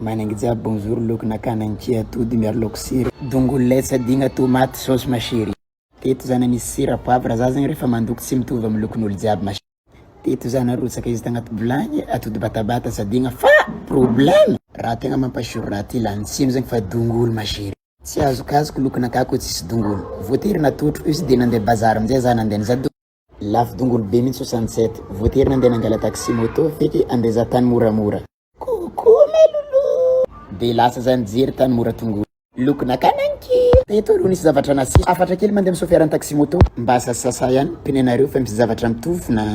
Manainga jiaby bonjour loko nakana ny kia atody miaro laoka sira dongolo lay tsy adigna tomaty saosy ma chérie teto za na misy sira poivre za zegny refa mandoko tsy mitovy amy lokon'olo jiaby ma chérie teto za narotsaka izy tagnaty vilagny atody batabata tsy adigna fa problème raha tegna mampasiro raha ty lany tsiny zegny fa dongolo ma chérie tsy azokazoko lokon'akà ko tsisy dongolo voatery natotro izy de nande bazary amizay za nande nizaha dongolo. Lafo dongolo be mintsy Sunset. Voatery nandeha nangala taxi moto feky andreza tany moramora. Coucou ma loulou. Dia lasa za nijery tany mora tongolo. Loko nakana ny kiho. Teto aloha nisy zavatra nasiso. Hafatra kely mandeha misofiara ny taxi moto. Mba sasasasa ihany pneu nareo fa misy zavatra mitovy na.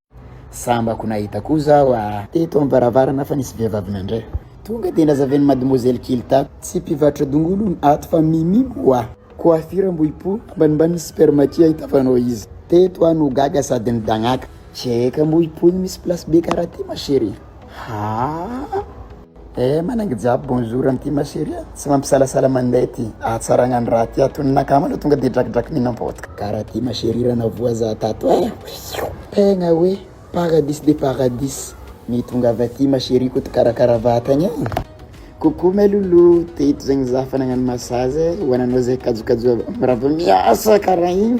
Sambako nahita koa zaho a! Teto am-baravarana fa nisy vehivavy nandray. Tonga dia nazaven'i mademoiselle kely tato, tsy mpivarotra dongolo hono ato fa mimi ho'a! Coiffure ambohipo, ambanimbaniny super maki ahitavanao izy. Teto aho no gaga sady nidagnaka. Check ambohipo iny misy place be karaha ty ma chérie. Haa! Eh manainga jiaby bonjour an'ity ma chérie a, tsy mampisalasala mandeha ity ahatsaragna ny raha ty ato ny nakama aloha tonga de drakidraky mihinam-paotka. Karaha ty ma chérie raha navoa za tato eh, tegna hoe paradis de paradis ny tongava aty ma chérie koto karakara vatagna eh. Coucou ma loulou, teto zegny za fa nagnano massage eh, ho ananao zay kajokajo aby, mirava miasa karaha igny.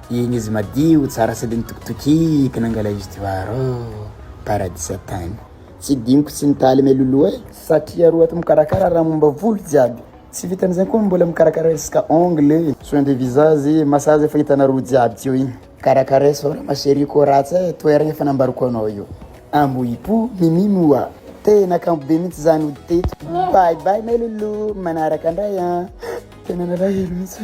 Iny izy madio tsara sady nitokitokiko nangala izy teo ary oh paradisa tany. Tsy diniko tsy nitaly meloloha eh. Satria roa ato mikarakara raha momba volo jiaby. Tsy vitan'izay koa mbola mikarakara resaka ongle, soin de visage, massage efa hitanareo jiaby teo iny. Karakara sao raha ma cherie koa ratsy eh, toeragna efa nambariko anao io. Ambohipo, mimi moa. Tena kanto be mintsy zah nody teto. Bye bye meloloha, manaraka ndray an. Tena nalahelo mintsy.